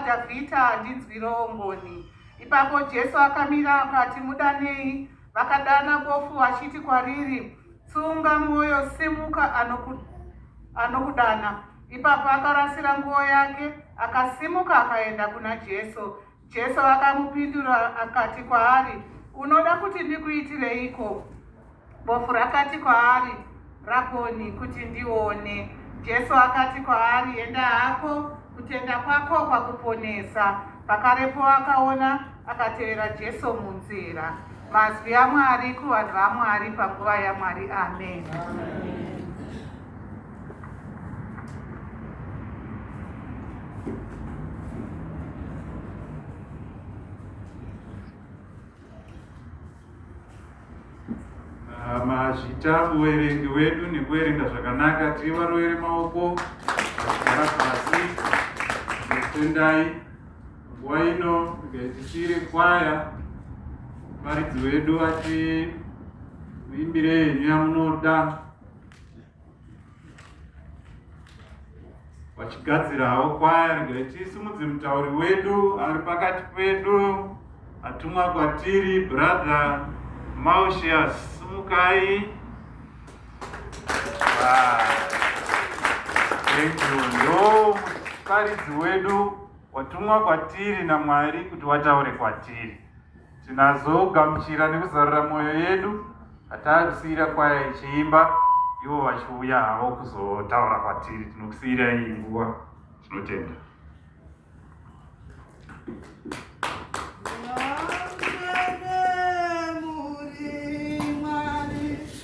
waDhavhidha, ndinzwirewo ngoni. Ipapo Jesu akamira akati, Mudanei. Vakadana bofu vachiti kwariri, Tsunga mwoyo, simuka, anoku, anokudana. Ipapo akarasira nguo yake, akasimuka akaenda kuna Jesu. Jesu akamupindura akati kwaari, Unoda kuti ndikuitireiko? Bofu rakati kwaari, Rabhoni, kuti ndione. Jesu akati kwaari, Enda hako, kutenda kwako kwakuponesa. Pakarepo akaona, akatevera Jesu munzira. Mazwi aMwari kuvanhu vaMwari panguva yaMwari. Amen, amen. mazvita muverengi wedu nekuverenga zvakanaka tiri varoveri maoko vagara pasi nekutendai nguva ino ngaitisiire kwaya varidzi wedu ati muimbire henyu yamunoda vachigadzirawo kwaya regere tisimudze mutauri wedu ari pakati pedu atumwa kwatiri brother mausias simukai ndomuparidzi wedu watumwa kwatiri namwari kuti wataure kwatiri Tinazogamuchira nekuzarura mwoyo yedu hatakusiyira kwaya ichiimba ivo vachiuya havo kuzotaura kwatiri. Tinokusiyira iyi nguva. Tinotenda.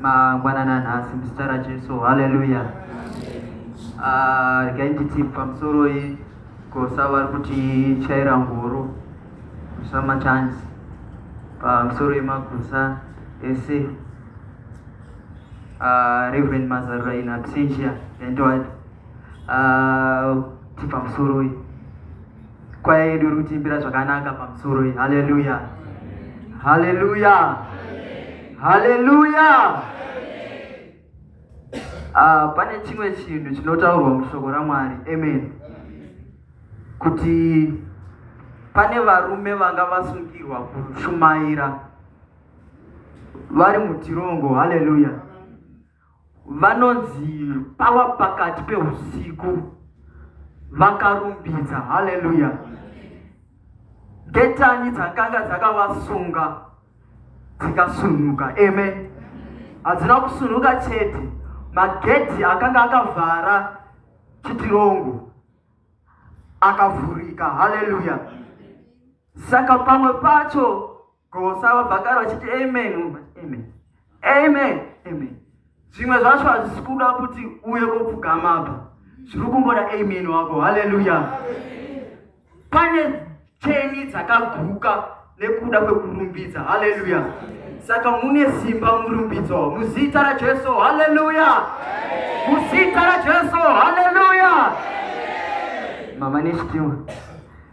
mangwanana nhasi muzita rajesu haleluya ah, regai nditi pamusoroi kosa vari kuti chaira ngoro samachansi pamusoro yemagusa ese ah, reverend mazarura in absentia and what ah, ti pamusoroi Kwaya yedu iri kutiimbira zvakanaka pamusoro iyi. Haleluya. Haleluya. Haleluya. Ah, pane chimwe chinhu chinotaurwa mushoko raMwari. Amen. Kuti pane varume vanga vasungirwa kushumaira vari mutirongo. Haleluya. vanonzi pava pakati peusiku vakarumbidza haleluya ngetani dzakanga dzakavasunga dzikasunuka amen hadzina kusunuka chete magedhi akanga akavhara chitirongo akavhurika haleluya saka pamwe pacho Ko sava vakara vachiti amen, amen, amen, amen. Zvimwe zvacho hazvisi kuda kuti uye kopfugama apa, zviri kungoda amen wako. Haleluya! Pane cheni dzakaguka nekuda kwekurumbidza. Haleluya! Saka mune simba murumbidzo muzita raJesu. Haleluya! Muzita raJesu. Haleluya! Mama nechitiwa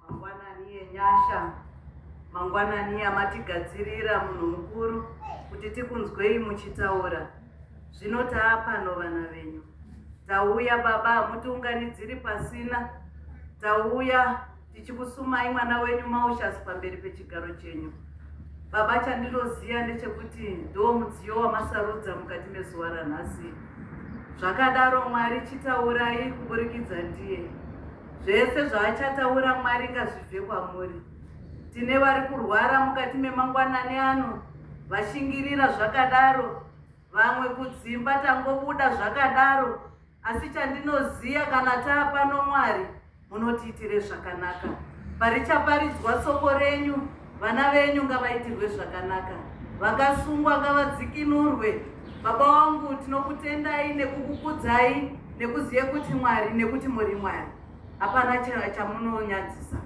Mangwanani enyasha, mangwanani amatigadzirira munhu mukuru kuti tikunzwei muchitaura. Zvino taapano vana venyu. Tauya baba, hamutiunganidziri pasina. Tauya tichikusumai mwana wenyu Maushas pamberi pechigaro chenyu. Baba, chandinoziva ndechekuti ndo mudziyo wamasarudza mukati mezuva ranhasi. Zvakadaro Mwari chitaurai kuburikidza ndiye. Zvese zvaachataura Mwari ngazvibve kwamuri. Tine vari kurwara mukati memangwanani ano vashingirira zvakadaro, vamwe kudzimba tangobuda zvakadaro, asi chandinoziya kana taapano Mwari munotiitire zvakanaka. Parichaparidzwa soko renyu Vana venyu ngavaitirwe zvakanaka, vakasungwa ngavadzikinurwe. Baba wangu, tinokutendai nekukukudzai nekuziva kuti Mwari nekuti muri Mwari, hapana chamunonyadzisa.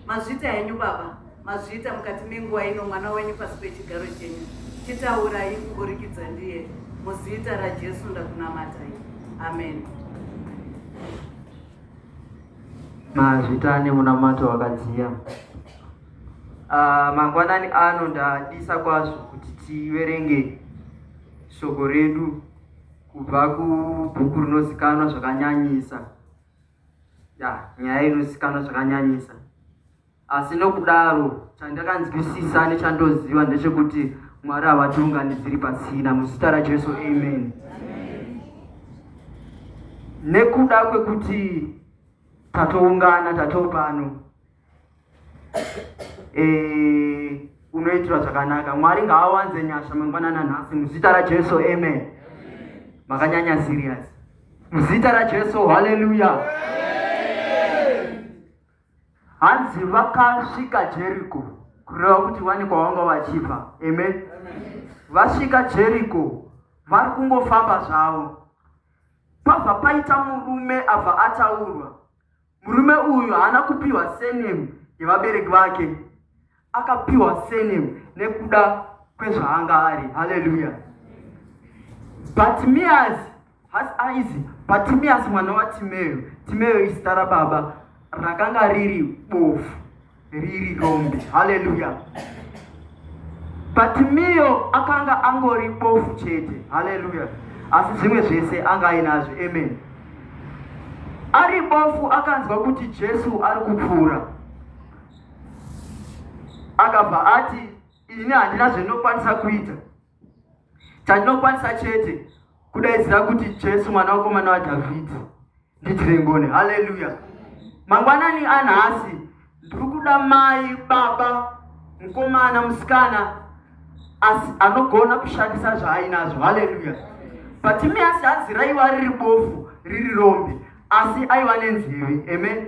Mazvita henyu baba, mazvita mukati menguva ino mwana wenyu pasi pechigaro chenyu. Chitaurai kuburikidza ndiye, muzita raJesu ndakunamatai, amen. Mazvita ane munamato wakadziya. Uh, mangwanani ano ndadisa kwazvo kuti tiverenge shoko redu kubva kubhuku rinozikanwa zvakanyanyisa ya nyaya inozikanwa zvakanyanyisa Asi nokudaro chandakanzwisisa nechandoziva ndechekuti Mwari havatiunganidziri pasina muzita raJesu amen. Nekuda kwekuti tatoungana tatopano eh unoitwa zvakanaka mwari ngaawanze nyasha mangwana nanhasi muzita rajesu amen makanyanya serious muzita rajesu haleluya Hanzi vakasvika Jeriko, kureva kuti vane kwavanga vachibva. Amen. Vasvika Jeriko, vari kungofamba zvavo. Pabva paita murume abva ataurwa. Murume uyu haana kupiwa surname yevabereki vake. Akapiwa surname nekuda kwezvaanga ari. Hallelujah. Bartimaeus has eyes. Bartimaeus mwana waTimeo. Timeo izita rababa rakanga riri bofu riri rombe. Hallelujah. Bartimeo akanga angori bofu chete. Hallelujah. Asi zvimwe zvese anga ainazvo. Amen. Ari bofu akanzwa kuti Jesu ari kupfuura. akabva ati ini handina zvandinokwanisa kuita chandinokwanisa chete kudaidzira kuti jesu mwana wekomana wadhavhidhi ndiitire ngoni haleluya mangwanani anhasi ndiri kuda mai baba mukomana musikana asi anogona kushandisa zvaainazvo haleluya patimi asi hanzi raiva riri bofu riri rombe asi aiva nenzeve amen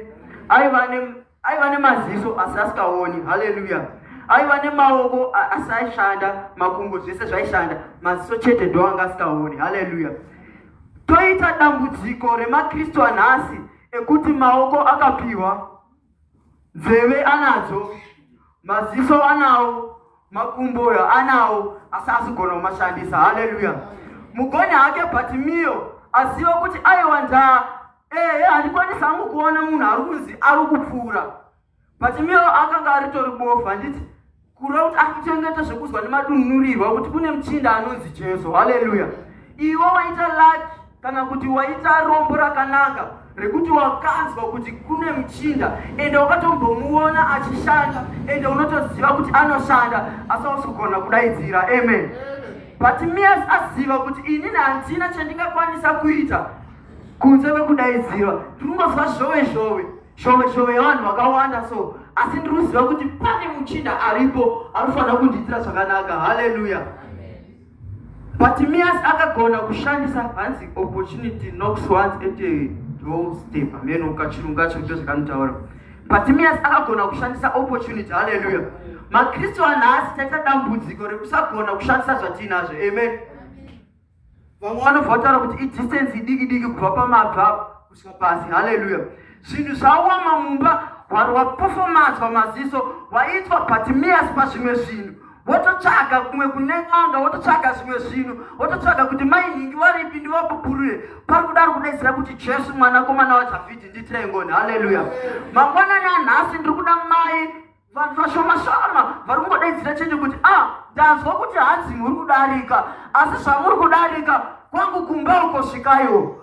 aiva ne Aiva nemaziso asi asikaoni. Haleluya. Aiva nemaoko asi aishanda, makumbo zvese zvaishanda, maziso chete ndo anga asikaoni. Haleluya. Toita dambudziko remaKristu anhasi ekuti maoko akapiwa, nzeve anadzo, maziso anawo, makumbo anawo asi asigona kumashandisa. Haleluya. Mugoni hake Bhatimiyo aziva kuti aiwa ndaa Ehe, handikwanisi hangu kuona munhu ari kunzi ari kupfuura but miro akanga aritori bofu handiti kureva kuti akuchengeta zvekuzwa nemadunurirwa kuti kune muchinda anonzi jesu haleluya iwe waita laki kana kuti waita rombo rakanaka rekuti wakanzwa kuti kune muchinda ende wakatombomuona achishanda ende unotoziva kuti anoshanda asi ausi kugona kudaidzira amen but mias aziva kuti inini handina chandingakwanisa kuita kunze kwekudaidzirwa ndiri kungozwa zhove zhove zhove zhove yevanhu vakawanda so asi ndiri kuziva kuti pane muchinda aripo anofanira kundiitira zvakanaka haleluya bartimias akagona kushandisa hanzi opportunity nox once at a whole step ameno kachirungu kacho ndo zvakanotaura bartimias akagona kushandisa opportunity haleluya makristu anhasi taita dambudziko rekusagona kushandisa zvatiinazvo amen, amen. vamwe vanobva vataura kuti idistensi idiki diki kubva pamabvi apo kusvika pasi haleluya zvinhu zvawama mumba hwari wapofomadzwa maziso waitwa batimiyasi pazvimwe zvinhu wototsvaga kumwe kune n'anga wototsvaga zvimwe zvinhu wototsvaga kuti mainhingi varipi ndivapupurure pari kudari kudaidzira kuti jesu mwanakomana wadhavhidhi nditirengoni haleluya mangwanani anhasi ndiri kuda mai vanhu vashoma shoma vari kungodaidzira chete kuti a ah, ndanzwa kuti hanzi muri kudarika asi zvamuri kudarika kwangu kumba uko svikaiwo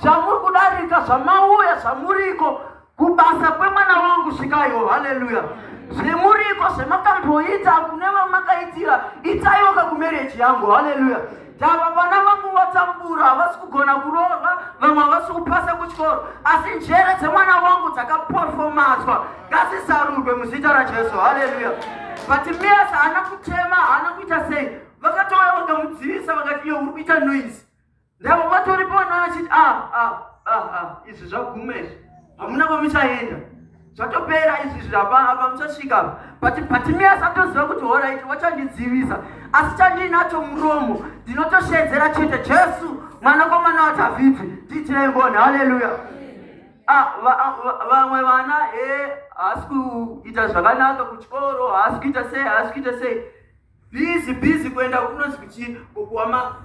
zvamuri kudarika zvamauya zvamuriko kubasa kwemwana wangu svikaiwo haleluya zvemuriko zvemakamboita kune vamakaitira itaiwo kakumereji yangu haleluya Tava vana vangu vatambura havasi kugona kurova vamwe havasi kupasa kuchikoro asi njere dzemwana wangu dzakaperfomazwa ngasizarurwe muzita rajesu haleluya but mias haana kutema haana kuita sei vakatouya vakamudzivisa vakati iyo uri kuita noise ndavo vatoripo vana vachiti a ah, a ah, a ah, a izvi zvaguma izvi hamuna kwamuchaenda zvatopera izvi zvirapa apa muchasvika but patimi asatoziva kuti horaiti wachandidzivisa asi chandiinacho muromo ndinotoshedzera chete jesu mwanakomana wadhavhidhi ndiitirei ngoni haleluya ah, vamwe vana e haasi kuita zvakanaka kuchikoro haasi kuita sei haasi kuita sei busy busy kuenda kunonzi kuchii kukuwa ma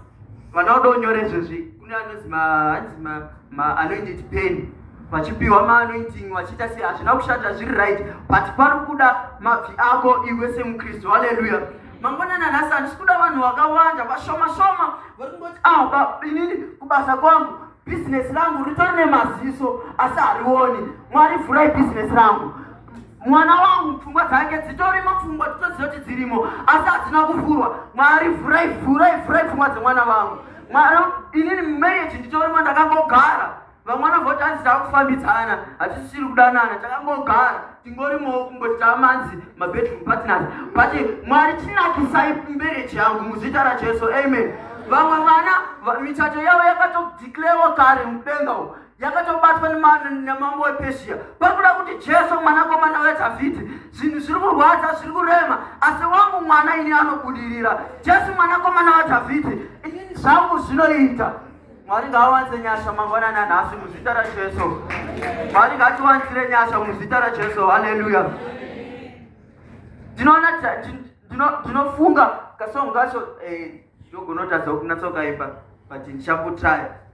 vana uda unyore izvezvi kune anonzi ma hanzi ma ma anoinditi peni vachipiwa maanointing vachiita sei hazvina kushata zviri right but pari kuda mabvi ako iwe semukristu haleluya mangwanani anhasi handisi kuda vanhu vakawanda vashoma shoma vari kungoti ah inini kubasa kwangu bhizinesi rangu ritori nemaziso asi harioni mwari vhurai bhizinesi rangu mwana wangu pfungwa dzake dzitorimo pfungwa titoziva kuti dzirimo asi hadzina kuvhurwa mwari vhurai vhurai vhurai pfungwa dzemwana vangu mwana inini mumarriage nditorimo ndakangogara vamwana voti hanzi takufambidzana hatisisiri kudanana takangogara tingorimowo kungoti tamanzi mabedroom partners but mwari chinakisai marriage yangu muzita rajesu amen vamwe vana michato yavo yakatodeclarewa kare mudenga yakatobatwa nemambo wepeshiya pari kuda kuti jesu mwanakomana wedhavhidhi zvinhu zviri kurwadza zviri kurema asi wangu mwana ini anobudirira jesu mwanakomana wadhavhidhi inini zvangu zvinoita mwari ngaawanze nyasha mangwanani anhasi muzita rajesu mwari ngatiwanzire nyasha muzita rajesu haleluya ndinoona ndinofunga kasongo kacho eh, ndogonotadza kunatsokaimba but ndichakutraya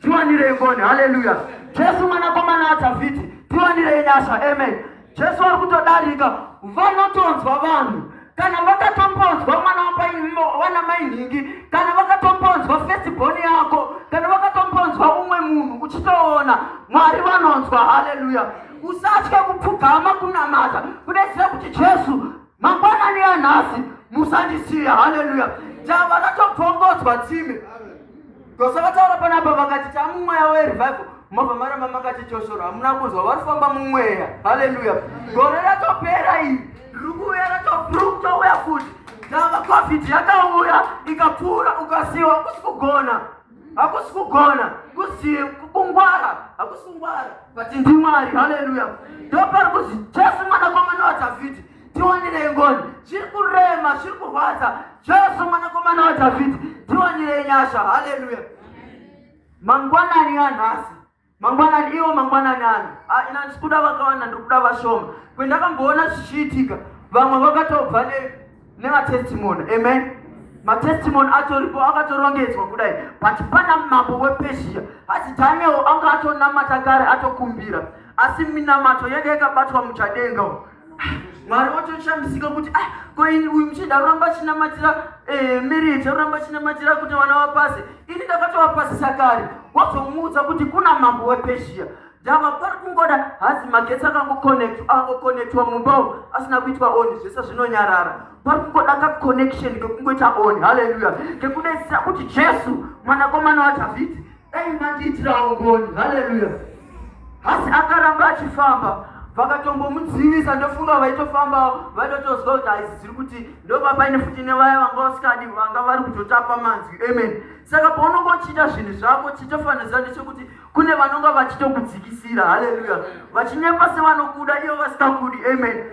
tiwanirei ngoni haleluya jesu mwanakomana adhavhidhi tiwanirei nyasha amen jesu ari kutodarika vanotonzwa vanhu kana vakatombonzwa mwana wapawana mainhingi kana vakatombonzwa fesibhoni yako kana vakatombonzwa umwe munhu uchitoona mwari vanonzwa haleluya usatye kupfugama kunamata kudetsera kuti jesu Mangwanani ya nhasi musandisiye. Haleluya. Java ratobvongodzwa tsime. Gosa vataura panapa vakati tamumweya werevival mabva mara mamakati choshoro hamuna kunzwa vari kufamba mumweya. Haleluya. Gore ratopera iri riri kuuya ratobruktouya futi. Java covid yakauya ikapfuura ukasiwa kusi kugona. hakusi kugona kuzi kungwara hakusi kungwara but ndimwari haleluya ndopari kuzi jesu mwanakomana wadhavhidhi tiwanirei ngoni zviri kurema zviri kurwadza jesu mwanakomana wadhavhidhi tiwanirei nyasha haleluya mangwanani anhasi mangwanani iwo mangwanani ano ah, ina ndikuda vakawanda ndikuda vashoma kwendakamboona zvichiitika vamwe vakatobva nevatestimony amen matestimony atoripo akatorongedzwa kudai but pana mambo wepezhiya asi daniel anga atonamata kare atokumbira asi minamato yenge yakabatwa muchadenga mwari watoshamisika kuti ah koini uyu muchida aramba achinamatira eh, marriage aramba achinamatira kuti vana vapase ini ndakatovapasisa kare wazomuudza kuti kuna mambo wepezhia ndava pari kungoda hazi magetsi akangokonectwa mumba asina kuitwa on zvese zvinonyarara pari kungoda kaconnection kekungoita on haleluya kekudaisira kuti jesu mwanakomana wadhavhidhi Dai mandiitirawo ngoni. Haleluya. Asi akaramba achifamba vakatombomudzivisa ndofunga vaitofambawo vaitotozwa kuti haizi dziri kuti ndoba paine futi nevaya vanga vasikadi vanga vari kutotapa manzwi amen saka paunonga uchiita zvinhu zvako chitofanirisa ndechekuti kune vanonga vachitokudzikisira haleluya vachinyepa sevanokuda ivo vasikakudi amen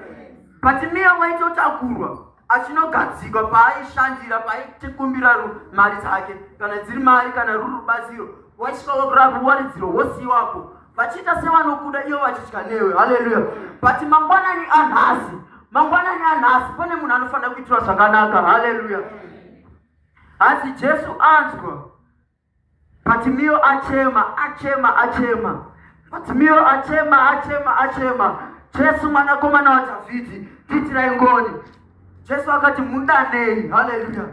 but miya waitotakurwa achinogadzikwa paaishandira paitikumbira mari dzake kana dziri mari kana ruri rubatsiro waisvika wakurapa waridziro wosiiwapo vachiita sevanokuda ivo vachitya newe haleluya but mangwanani anhasi mangwanani anhasi pane munhu anofanira kuitirwa zvakanaka haleluya hanzi jesu anzwa But Mio achema, achema, achema. But Mio achema, achema, achema. Jesu mwanakomana waDhavhidhi, ndiitirai ngoni. Jesu akati mudanei. Haleluya.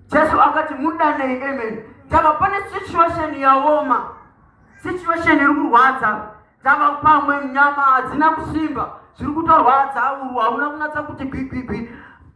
Jesu akati mudanei. Amen. Ndava pane situation yaoma. Situation iri kurwadza. Ndava pamwe nyama hadzina kusimba. Zviri kutorwadza urwu hauna kunatsa kuti gwigwigwi.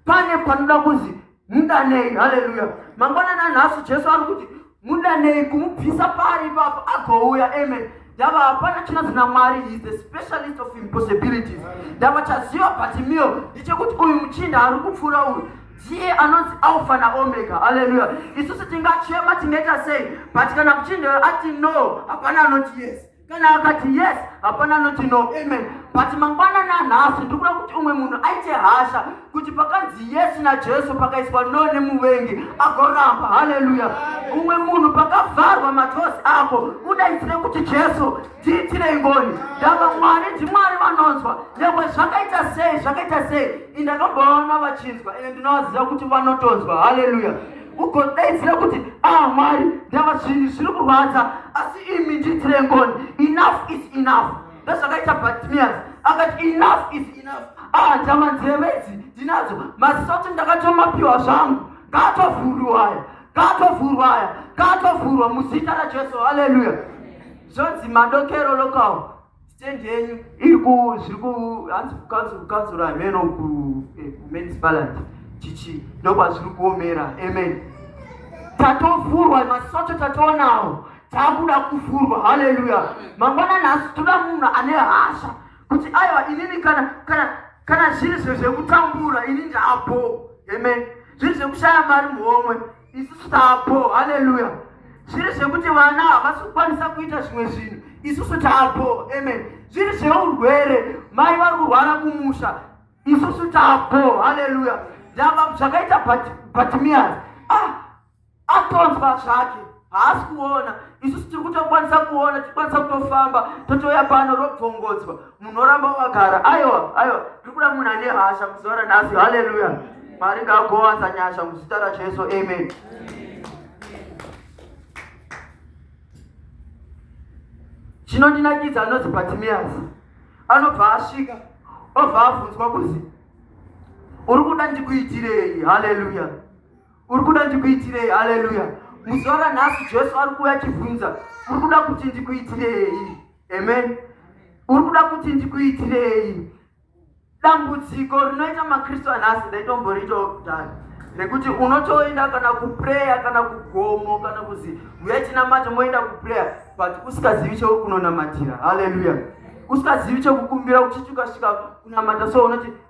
Pane panoda kuzi mudanei haleluya mangwanani anhasi jesu ari kuti mudanei kumubvisa pari ipapo agouya amen ndava hapana chinanzi namwari is the specialist of impossibilities ndava chaziva batimio ndichekuti uyu muchinda ari kupfuura uyu ndiye anonzi alfa naomega haleluya isusu tingachema tingaita sei but kana muchinda ati no hapana anoti yes kana akati yes hapana anoti no amen but mangwana nanhasi ndikuda kuti umwe munhu aite hasha kuti pakanzi yes najesu pakaiswa no nemuvengi agoramba haleluya umwe munhu pakavharwa matosi ako udaisire kuti jesu ndiitire ngoni ndava mwari ndimwari vanonzwa nyangwe zvakaita sei zvakaita sei indakambovaona vachinzwa ende ndinovaziva kuti vanotonzwa haleluya ugodaidzira kuti ah mwari ndava zvinhu zviri kurwadza asi imi ndiitire ngoni enough is enough ndozvakaita batmias akati enough is enough ah ndava nzeve idzi ndinadzo maziso kuti ndakatomapiwa zvangu ngaatovhurwa aya ngaatovhurwa aya ngaatovhurwa muzita rajesu haleluya zvonzi madokero lokawo stand yenyu iri ku zviri ku hanzi kukanzura kukanzura hameno ku eh, men's balance chichi ndokwazviri kuomera amen tatovhurwa masoto tatoonawo takuda kuvhurwa haleluya mangwana nhasi toda munhu ane hasha kuti aiwa inini kana kana kana zviri zve zvekutambura ini ndaapo amen zviri zvekushaya mari muhomwe isu taapo haleluya zviri zvekuti vana havasi kukwanisa kuita zvimwe zvinhu isusu taapo amen zviri zveurwere mai vari kurwara kumusha isusu taapo haleluya ndava zvakaita batimias ah, atonzwa zvake haasi kuona isusu tiri kutokwanisa kuona tikwanisa kutofamba totouya pano robvongodzwa munoramba wakagara aiwa aiwa tiri kuda munhu ane hasha muzuva ranhasi haleluya mwari ngagowanza nyasha muzita rajesu amen chinondinakidza anonzi batimiyasi anobva asvika obva abvunzwa kuzi uri kuda ndikuitirei haleluya uri kuda ndikuitirei haleluya muzuva ranhasi jesu ari kuuya achibvunza uri kuda kuti ndikuitirei amen uri kuda kuti ndikuitirei dambudziko rinoita makristu anhasi ndaitomboritawo kudhara nekuti unotoenda kana kupreya kana kugomo kana kuzi uya tinamata moenda kupreya but usikazivi chekukunonamatira haleluya usikazivi chekukumbira uchiti ukasvika kunamata so unoti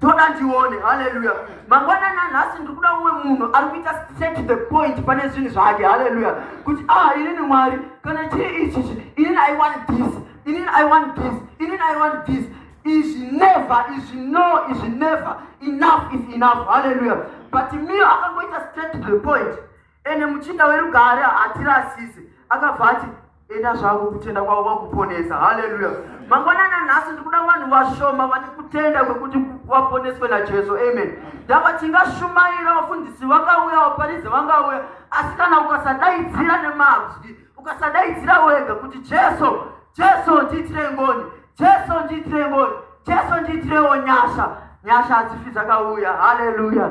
toda tione haleluya mangwanani anhasi ndiri kuda umwe munhu ari kuita set the point pane zvinhu zvake haleluya kuti ah inini mwari kana chii ichichi inini i want this inini i want this inini i want this izvi never izvi no izvi never enough is enough haleluya but mio akangoita set the point ende muchinda werugare hatirasise akabva ati enda zvako kutenda kwavo kwakuponesa haleluya mangwanana nhasi ndikuda vanhu vashoma vane kutenda kwekuti vaponeswe najesu amen ndava tingashumaira vafundisi vakauya vaparidzi vangauya asi kana ukasadaidzira nemazwi ukasadaidzira wega kuti jesu jesu ndiitire ngoni jesu ndiitire ngoni jesu ndiitirewo nyasha nyasha hadzifi dzakauya haleluya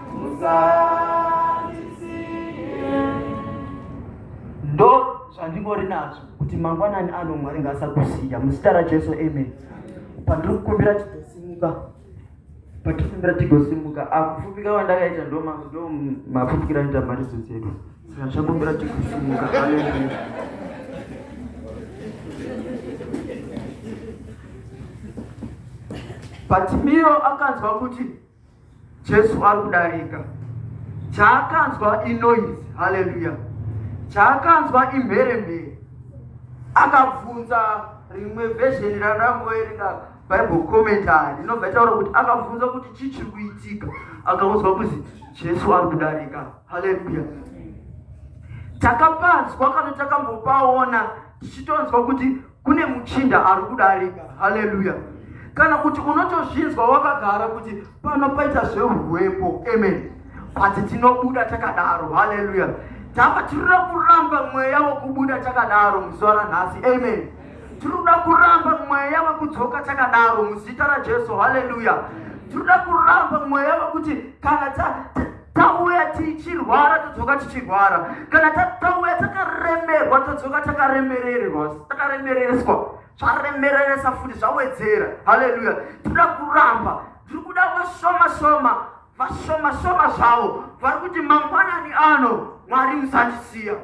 ndo zvandingori nazvo kuti mangwanani ano mwari ngaasakusiya muzita rajesu amen pandiri kukumbira tigosimuka pandiri kukumbira tigosimuka akufupika wandakaita ndo mafupikira anoita mharidzo dzedu saka ndichakumbira tigosimuka patimiro akanzwa kuti Jesu ari kudarika. Chaakanzwa inoise, haleluya. Chaakanzwa imheremhere. Akabvunza rimwe vhezheni randakamboverenga bible commentary inobva itaura kuti akabvunza kuti chii chiri kuitika akaudzwa kuzi jesu ari kudarika haleluya takapanzwa kana takambopaona tichitonzwa kuti kune muchinda ari kudarika haleluya kana kuti unotozvinzwa wakagara kuti pano paita zvehuwepo amen but tinobuda takadaro haleluya tava tirira kuramba mweya wekubuda takadaro muzuva ranhasi amen tinoda kuramba mweya wekudzoka takadaro muzita rajesu haleluya tinoda kuramba mweya wekuti kana tauya tichirwara todzoka tichirwara kana tauya takaremerwa todzoka takaremererwa takaremereswa zvaremereresa futi zvawedzera haleluya tinoda kuramba tiri kuda vashoma shoma vashoma shoma zvavo vari kuti mangwanani ano mwari musandisiya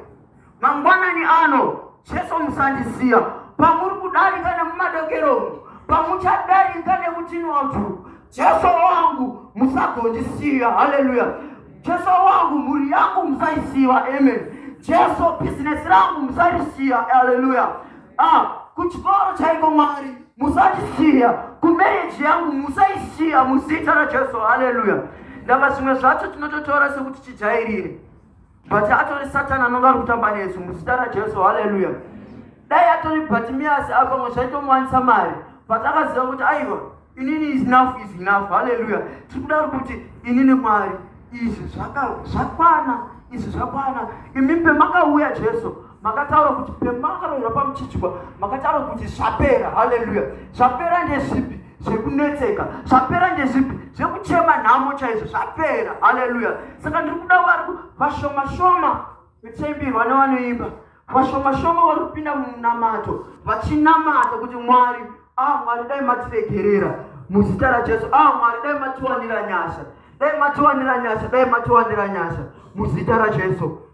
Mangwanani ano Jesu musandisiya pamuri kudarika nemumadokero umu pamuchadarika nekutinwa utu Jesu wangu musagondisiya haleluya Jesu wangu mhuri yangu musaisiya amen Jesu business rangu musarisiya haleluya ah kuchikoro chaiko mwari musandisiya kumereji yangu musaisiya muzita rajesu haleluya ndava zvimwe zvacho tinototora sekuti tijairire but atori satani anonga ari kutamba nesu muzita rajesu haleluya dai atori bhatimiyasi apamwe zvaitomuwanisa mari but akaziva kuti aiwa inini is enough is enough haleluya tiri kudaro kuti inini mwari izvi zvakwana izvi zvakwana imi pemakauya jesu makataura kuti pemakaroiwa pamuchichwa makataura kuti zvapera haleluya zvapera ndezvipi zvekunetseka zvapera ndezvipi zvekuchema nhamo chaizvo zvapera haleluya saka ndiri kuda vari vashomashoma vechaimbirwa nevanoimba vashomashoma vari kupinda mumunamato vachinamata kuti mwari a ah, mwari dai matiregerera muzita rajesu a ah, mwari dai matiwanira nyasha dai matiwanira nyasha dai matiwanira nyasha muzita rajesu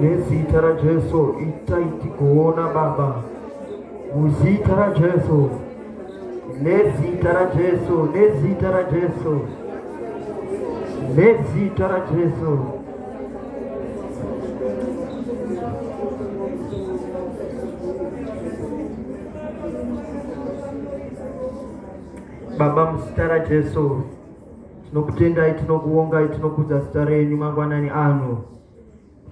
nezita rajesu itai tikuona baba muzita rajesu nezita rajesu nezita rajesu nezita rajesu baba muzita rajesu tinokutendai tinokuongai tinokudza zita renyu mangwanani ano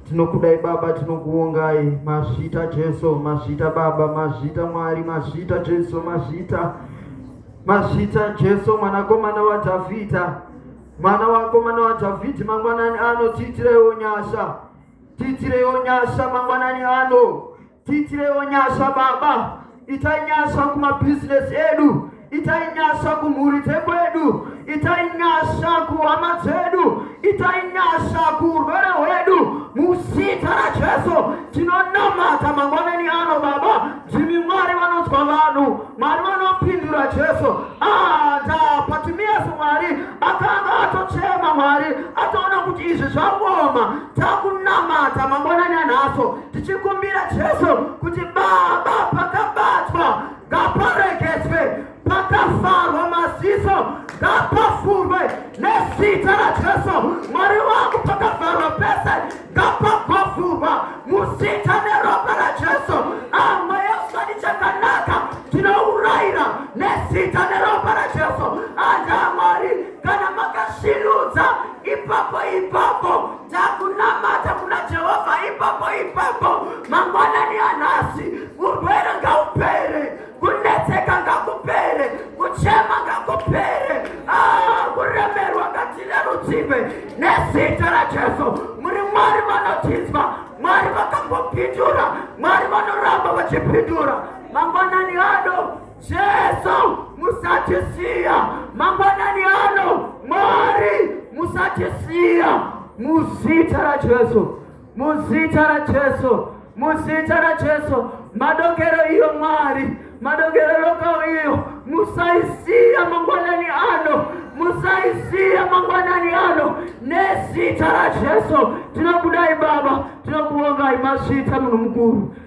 Tinokudai Baba, tinokuongai mazvita Jesu, mazvita Baba, mazvita Mwari, mazvita Jesu, mazvita mazvita Jesu, mwanakomana waDhavhidha, mwana wakomana waDhavhidhi, mangwanani ano tiitireiwo nyasha, tiitireiwo nyasha mangwanani ano Tiitirewo nyasha Baba, itai nyasha kumabhizinesi edu, itai nyasha kumhuri dzekwedu, itai nyasha kuhama dzedu, itai nyasha kuurwere hwedu. Muzita raJesu tinonamata mangwanani ano Baba, ndimi Mwari vanonzwa vanhu, Mwari vanopindura Jesu. Ah, ndapatimiyasi Mwari akanga atochema Mwari atoona kuti izvi zvaoma, takunamata mangwanani anhaso tichikumbira Jesu kuti Baba, pakabatwa ngaparegedzwe, pakafarwa maziso ngapafurwe nezita raJesu. Mwari wangu, pakafarwa pese ngapagofurwa muzita neropa raJesu. Amwe yoswani chakanaka tinouraira nezita neropa raJesu. Anda Mwari, kana makashinudza ipapo ipapo Takunamata kuna Jehovha ipapo ipapo mangwanani anhasi. Urwere ngaupere, kunetseka ngakupere, kuchema ngakupere, ah, kuremerwa ngatirerutsiwe nezita raJesu. Muri Mwari vanotinzwa, Mwari vakambopindura, Mwari vanoramba vachipindura mangwanani ano. Jesu musatisiya mangwanani ano, Mwari musatisiya muzita raJesu, muzita raJesu, muzita raJesu. Madokero iyo Mwari, madokero lokao iyo, musaisiya mangwanani ano, musaisiya mangwanani ano, nezita raJesu. Tinokudai Baba, tinokuongai mazvita munhu mukuru.